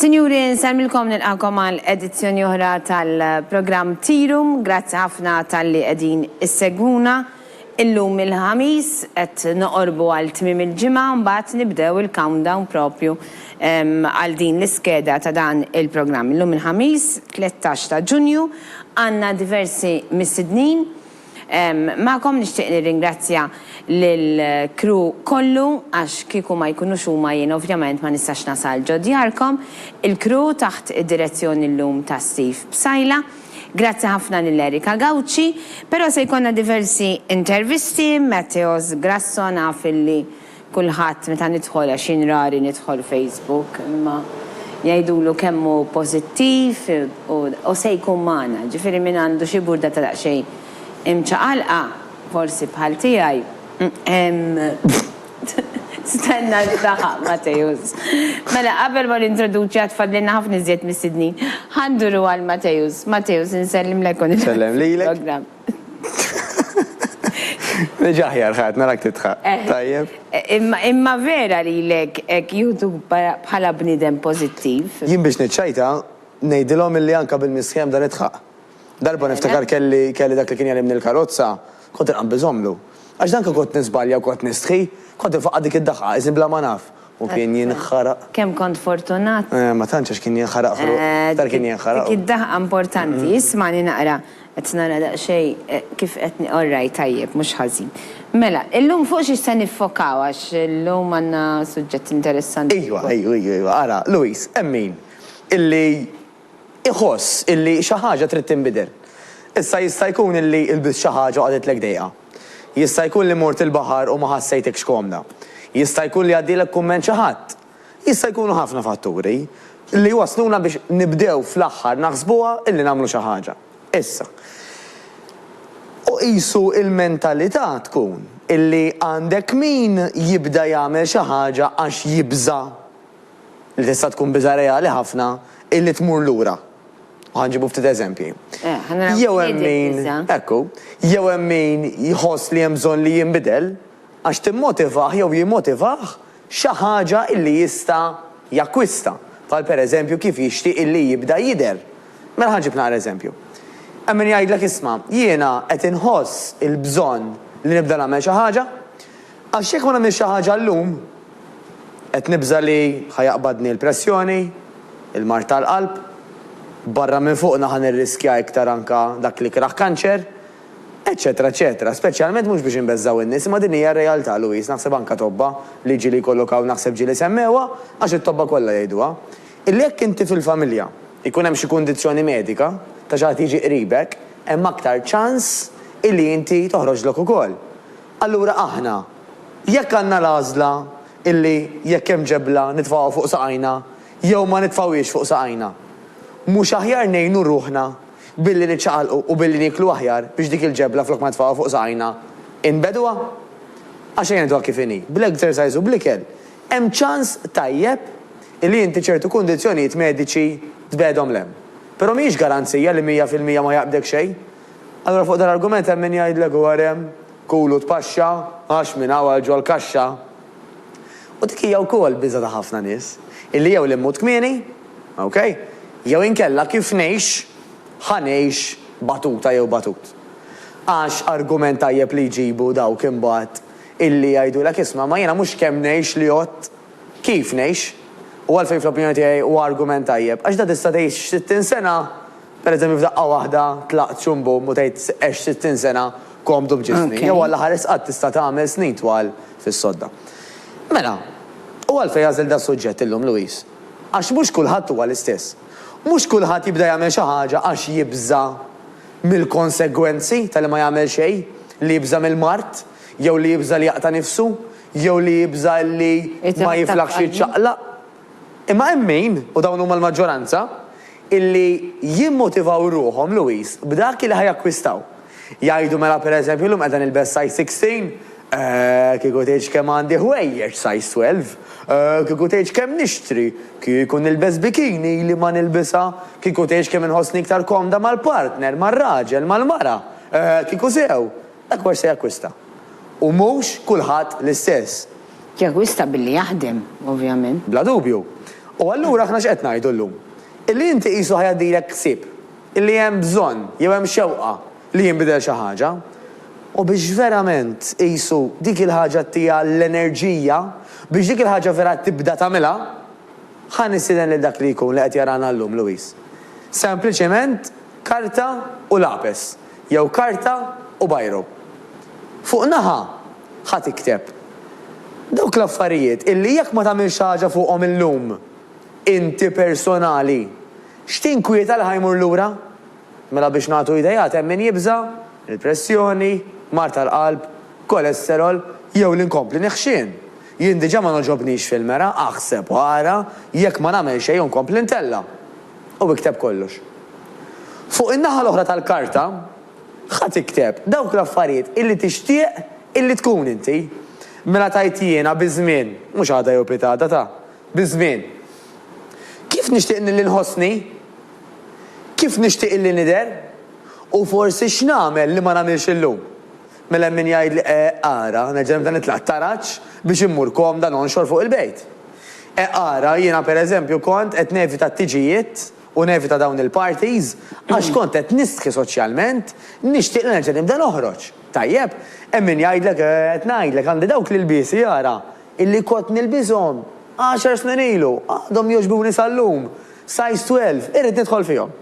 Sinjuri, nsellmilkom nilqagħkom għal edizzjoni oħra tal-programm Tirum. Grazzi ħafna talli qegħdin issegwuna. Illum il-Ħamis qed noqorbu għal tmiem il-ġimgħa mbagħad nibdew il-countdown propju għal din l-iskeda ta' dan il-programm. Illum il-Ħamis, 13 ta' Ġunju, għandna diversi mistednin. Magħkom nixtieq nirringrazzja lill-crew kollu għax kieku ma jkunux huma jien ovvjament ma nistax nasal ġo djarkom. Il-crew taħt id-direzzjoni llum ta' Steve Psaila. Grazzi ħafna lil Erika Gauci. Però se jkollna diversi intervisti, Matteos Grasso naf illi. Kulħadd meta nidħol, għax jien rari nidħol Facebook, imma jgħidulu kemm hu pożittiv u se jkun magħna. Ġifieri min għandu xi burda ta' daqsxejn imċaqalqa, forsi bħal tiegħi, stenna li taħaq Mateusz. Mela qabel ma nintroduċi għad fadlilna ħafna iżjed mistednin. Ħa nduru għal Mateusz. Mateusz, insellmlek u nibda fil-programm. Reġa' aħjar ħadd, narak tidħaq. Tajjeb. Imma vera lilek hekk jieħdu bħala bniedem pożittiv? Jien biex niċċajta, ngħidilhom illi anke bil-misħieħ nibda nidħaq. Darba niftakar kelli dak li kien jegħlimni l-karozza, kont inqanbiżhomlu. Għax danka kont niżbalja u kont nistħi, kont infaqqa' dik id-daħqa, iżni bla ma naf. U kien jinħaraq. Kemm kont fortunat. Eh, ma tantx għax kien jinħaraq ħruq. Iktar kien jinħaraq. Dik id-daħqa importanti. Ismagħni naqra. Qed nara daqsxejn kif qed ni-, orrajt, tajjeb, mhux ħażin. Mela, illum fuq xiex se niffokaw għax illum għandna suġġett interessanti. Ejwa, ejwa, ejwa, ejwa. Ara, Louise, hemm min illi iħoss illi xi ħaġa trid tinbidel. Issa jista' jkun illi lbist xi ħaġa u qagħditlek dejqa. Jista' jkun li mort il-baħar u ma ħassejtekx komda. Jista' jkun li għaddielek kumment xi ħadd. Jista' jkunu ħafna fatturi li jwassluna biex nibdew fl-aħħar naħsbuha illi nagħmlu xi ħaġa. Issa. U qisu l-mentalità tkun illi għandek min jibda jagħmel xi ħaġa għax jibża'. li tista' tkun biża' reali ħafna hi li tmur lura. U ħa nġibu ftit eżempji. Jew hemm min, ekku, jew hemm min jħoss li hemm bżonn li jinbidel għax timmotivah jew jimmotivah xi ħaġa li jista' jakkwista, bħal pereżempju kif jixtieq illi jibda jidher. Mela ħa nġib naqra eżempju. Hemm min jgħidlek isma', jiena qed inħoss il-bżonn li nibda nagħmel xi ħaġa, Għax jekk ma nagħmilx xi ħaġa llum, qed nibża' li ħa jaqbadni l-pressjoni, il-mard tal-qalb, barra minn fuqna ħa nirriskja iktar anke dak l-ikrah kanċer, eċċetera eċċetera. Speċjalment mhux biex inbeżżgħu n-nies, imma din hija r-realtà, Louise, naħseb anke tobba li ġieli jkollok hawn naħseb ġieli semmewha, għax it-tobba kollha jgħiduha, illi jekk inti fil-familja jkun hemm xi kundizzjoni medika ta' xi ħadd jiġi qribek, hemm aktar ċans illi inti toħroġlok ukoll. Allura aħna, jekk għandna l-għażla illi jekk hemm ġebla nitfgħuha fuq saqajna jew ma nitfgħuhiex fuq saqajna, mhux aħjar ngħinu ruħna billi niċċaqalqu u billi nieklu aħjar biex dik il-ġebla flok ma nitfgħuha fuq saqajna inbegħduha? Għax ejja ngħiduha kif inhi, bl-exercise u bl-ikel hemm ċans tajjeb illi inti ċertu kundizzjonijiet mediċi tbegħedhom 'l hemm. Però mhijiex garanzija li mija fil-mija ma jaqbdek xejn. Allura fuq dal-argument hemm min jgħidlek u għarem, kul u tpaxxa, għax minn hawn għal ġol-kaxxa. U dik hija wkoll biża' ta' ħafna nies, illi jew li mmut kmieni, ok, jew inkella kif ngħix, ħa ngħix batuta jew batut. Għax argument tajjeb li jġibu dawk imbagħad illi jgħidulek isma' ma jiena mhux kemm ngħix li għodt, kif ngħix. U għalfejn fl-opinjoni tiegħi huwa argument tajjeb, għax da tista' tgħix sittin sena Per eżempju f'daqqa waħda tlaqt xum bum u tgħid għext sittin sena komdu b'ġisni, jew Alla ħares qatt tista' tagħmel snin twal fis-sodda. Mela, u għalfejn għażilt das-suġġett illum, Louise? Għax mhux kulħadd huwa l-istess. Mhux kulħadd jibda jagħmel xi ħaġa għax jibża' mill-konsegwenzi ta' li ma jagħmel xejn, li jibża' mill-mard, jew li jibża' li jaqta' nifsu, jew li jibża' li ma jiflaħx jiċċaqlaq. Imma hemm min, u dawn huma l-maġġoranza, illi jimmotivaw ruħhom, Louis, b'dak illi ħa jakkwistaw. Jgħidu mela per eżempju llum qiegħda nilbes size sixteen, eh, kieku tgħidx kemm għandi ħwejjeġ size twelve, eh, kieku tgħidx kemm nixtri, kieku nilbes bikini ili ma nilbisha, kieku tgħidx kemm inħossni iktar komda mal-partner, mar-raġel, mal-mara, eh, kieku sew, Dak mhux se jakkwista. U mhux kulħadd l-istess. Jakkwista billi jaħdem, ovvjament. Bla dubju. U allura aħna x'qed ngħidu llum? Illi inti qisu ħa jgħaddilek ħsieb. Illi hemm bżonn, jew hemm xewqa, li jinbidel xi ħaġa. U biex verament, qisu, dik il-ħaġa ttiha l-enerġija, biex dik il-ħaġa vera tibda tagħmilha, ħa nistieden lil dak li jkun li qed jarana llum, Louise. Sempliċement karta u lapes. jew karta u bajro. Fuq naħa, ħa tikteb. Dawk l-affarijiet illi jekk ma tagħmilx xi ħaġa fuqhom illum, inti personali, x'tinkwieta li ħa jmur lura? Mela biex nagħtu ideat hemm min jibża', il-pressjoni, mard tal-qalb, kolesterol, jew li nkompli neħxien. Jien diġà ma nogħġobnix fil-mera, aħseb u ara jekk ma nagħmel xejn u nkompli ntella'. u ikteb kollox. Fuq in-naħa l-oħra tal-karta, ħa tikteb dawk l-affarijiet illi tixtieq illi tkun inti. Mela tgħid jiena biż-żmien, mhux għada jew pitgħada ta', biż-żmien. Kif nixtieq nilli nħossni? Kif nixtieq illi nidher? U forsi x'nagħmel li ma nagħmilx illum? Mela hemm min jgħidli, E, ara, neġa' nibda nitlaq t-taraġ biex immur komda nonxor fuq il-bejt. E, ara, jiena per eżempju kont qed nevita t-tiġijiet u nevita dawn il-parties għax kont qed nistħi soċjalment, nixtieq li nerġa' nibda noħroġ. Tajjeb, hemm min jgħidlek, E, qed ngħidlek, għandi dawk l-ilbiesi, ara, illi kont nilbishom għaxar snin ilu, għadhom jogħġbuni sal-lum, size twelve, irrid nidħol fihom.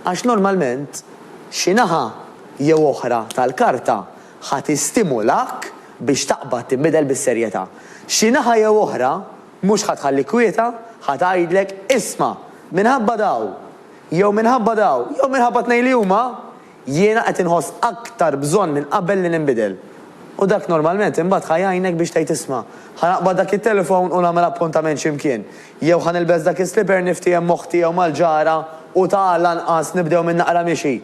għax normalment xi naħa jew oħra tal-karta ħa tistimulak biex taqbad tinbidel bis-serjetà. Xi naħa jew oħra mhux ħa tħallik kwieta, ħa tgħidlek, isma', minħabba dawn, jew minħabba dawn, jew minħabba t-tnejn li huma, Jiena qed inħoss aktar bżonn minn qabel li ninbidel. U dak normalment imbagħad ħa jgħinek biex tgħid isma', ħa naqbad dak it-telefon u nagħmel appuntament xi mkien, jew ħa nilbes dak is-slipper niftiehem m'oħti jew mal-ġara u ta' lanqas nibdew minn naqra mixi.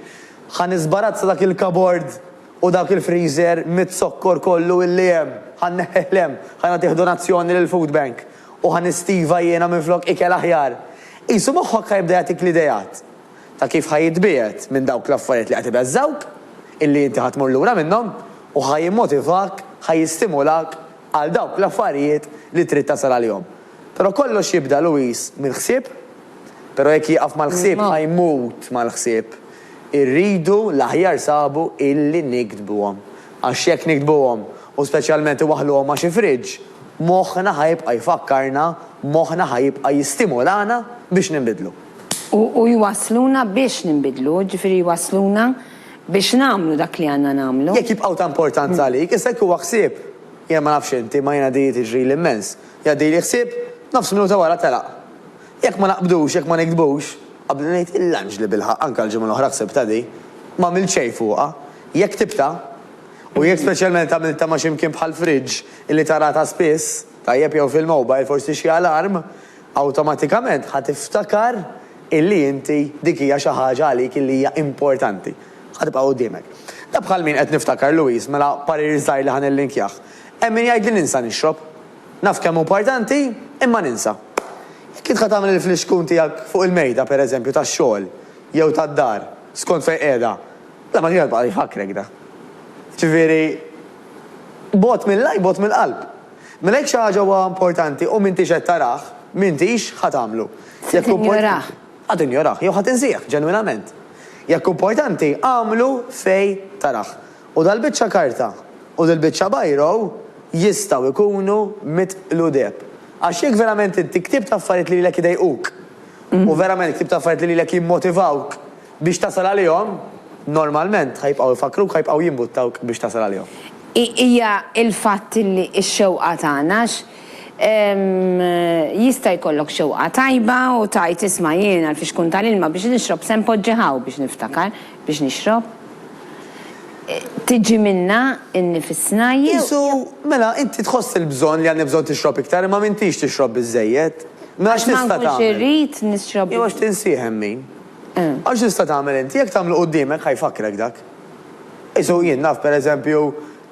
Ħa niżbarazza dak il-kabord u dak il-friżer miz-zokkor kollu illi hemm, ħa nneħħih 'l hemm, ħa nagħtih donazzjoni lill-food bank u ħa nistiva jiena minflok ikel aħjar. Qisu moħħok ħa jibda jagħtik l-ideat. ta' kif ħa jitbiegħed minn dawk l-affarijiet li qed ibeżżgħuk, illi inti ħa tmur lura minnhom, u ħa jimmotivak, ħa jistimulak għal dawk l-affarijiet li trid tasal għalihom. Però kollox jibda, Louis, mill-ħsieb. Però jekk jieqaf mal-ħsieb ħa jmut mal-ħsieb. Irridu l-aħjar sabu illi niktbuhom. Għax jekk niktbuhom, u speċjalment iwaħħluhom ma' xi fridge, moħħna ħa jibqa' jfakkarna, moħħna ħa jibqa' jistimulana biex ninbidlu. U jwassluna biex ninbidlu, jiġifieri jwassluna biex nagħmlu dak li għandna nagħmlu. Jekk jibqgħu ta' importanza għalik, issa jekk huwa ħsieb, jien ma nafx inti, imma jiena di tiġrili immens, jgħaddili ħsieb, nofs minuta wara telaq. Jekk ma naqbdux, jekk ma niktbux, qabli ngħid il-lanġ li bilħaqq anke l-ġimgħa l-oħra ħsibtha di, m'għamilt xejn fuqha. Jekk ktibtha, u jekk speċjalment għamiltha ma' xi mkien bħall-fridge illi taraha ta' spiss, tajjeb jew fil-mobile, forsi xi alarm, Awtomatikament ħa tiftakar illi inti dik hija xi ħaġa għalik illi hija importanti. Ħa tibqa' quddiemek. Da bħal min qed niftakar Louise, mela parir żgħir li ħa nillinkjah. Hemm min jgħid li ninsa nixrob. Naf kemm hu partanti, imma ninsa. Jekk int ħa tagħmel il-flixkun tiegħek fuq il-mejda, per eżempju, tax-xogħol, jew tad-dar, skont fejn qiegħda, bla ma tibqa' jfakkrek da. Jiġifieri, bogħod mill-għajn, bogħod mill-qalb. Mela jekk xi ħaġa huwa importanti u m'intix qed tarah, m'intix ħa tagħmlu. Se tinjorah. Ħa tinjorah jew ħa tinsieh ġenwinament. Jekk hu importanti, agħmlu fejn tarah. U dal-biċċa karta u dil-biċċa biro jistgħu jkunu mitqludeb. Għax jekk verament inti ktibt affarijiet li lilek idejquk u verament ktibt affarijiet li lilek jimmotivawk, Biex tasal għalihom, normalment, ħa jibqgħu jfakkruk, ħa jibqgħu jimbuttawk biex tasal għalihom. Hija l-fatt li x-xewqa tagħna, għax jista' jkollok xewqa tajba u tgħid isma' jien għalfiex tkun ta l-ilma biex nixrob se npoġġi hawn biex niftakar biex nixrob. Tiġi minnha nnifisna jew. Qisu, mela inti tħoss il-bżonn li għandek bżonn tixrob iktar imma m'intix tixrob biżżejjed. Mela x'tista' tagħmel? Għax ma nkunx irrid nixrob. Jew għax tinsih hemm min. Għax tista' tagħmel inti, jekk tagħmlu quddiemek ħa jfakkrek dak. Qisu jien naf per eżempju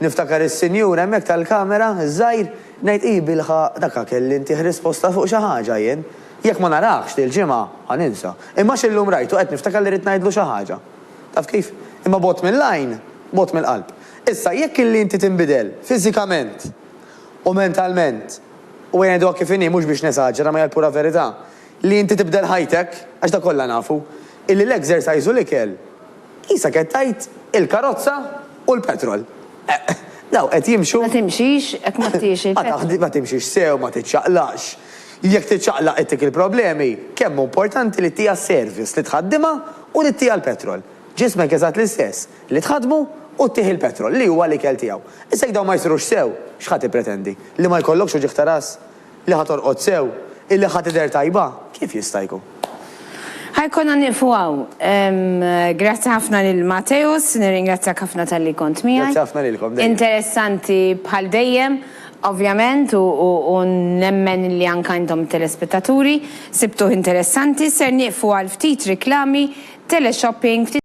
niftakar is-sinjur hemmhekk tal-kamera, iż-żgħir, ngħid hi bilħaqq dak ha kelli ntih risposta fuq xi ħaġa jien. Jekk ma naraħx dil-ġimgħa ħa ninsa. Imma għax illum rajtu qed niftakar li rrid ngħidlu xi ħaġa. Taf kif? Imma bogħod mill-għajn, bogħod mill-qalb. Issa jekk illi inti tinbidel fiżikament u mentalment, u ngħiduha kif inhi mhux biex nesaġera ma hija l-pura verità, Li inti tibdel ħajtek, għax dak kollha nafu, illi l-exercise u l-ikel, qisha qed tgħid il-karozza u l-petrol. Eqq! Dawk qed jimxu. Ma timxix, jekk ma tiex il-petrol. Ma timxix sew, ma tiċċaqlaqx. Jekk tiċċaqlaq ittik il-problemi. Kemm hu importanti li ttiha service, li tħaddimha u li ttiha l-petrol. Ġismek eżatt l-istess, li tħaddmu u ttih il-petrol, li huwa l-ikel tiegħu. Issa jekk dawn ma jsirux sew, x'ħa tippretendi? Li ma jkollokx uġigħ ta' ras? li ħa torqod sew, illi ħa tidher tajba, kif jista' jkun? Ħa jkollna nieqfu hawn. Grazzi ħafna lil Mateusz, nirringrazzjak ħafna talli kont miegħi. Grazzi ħafna lilkom dejjem. Interessanti bħal dejjem, ovvjament, u nemmen li anke intom it-telespettaturi sibtuh interessanti. Ser nieqfu għal ftit riklami, teleshopping, ftit.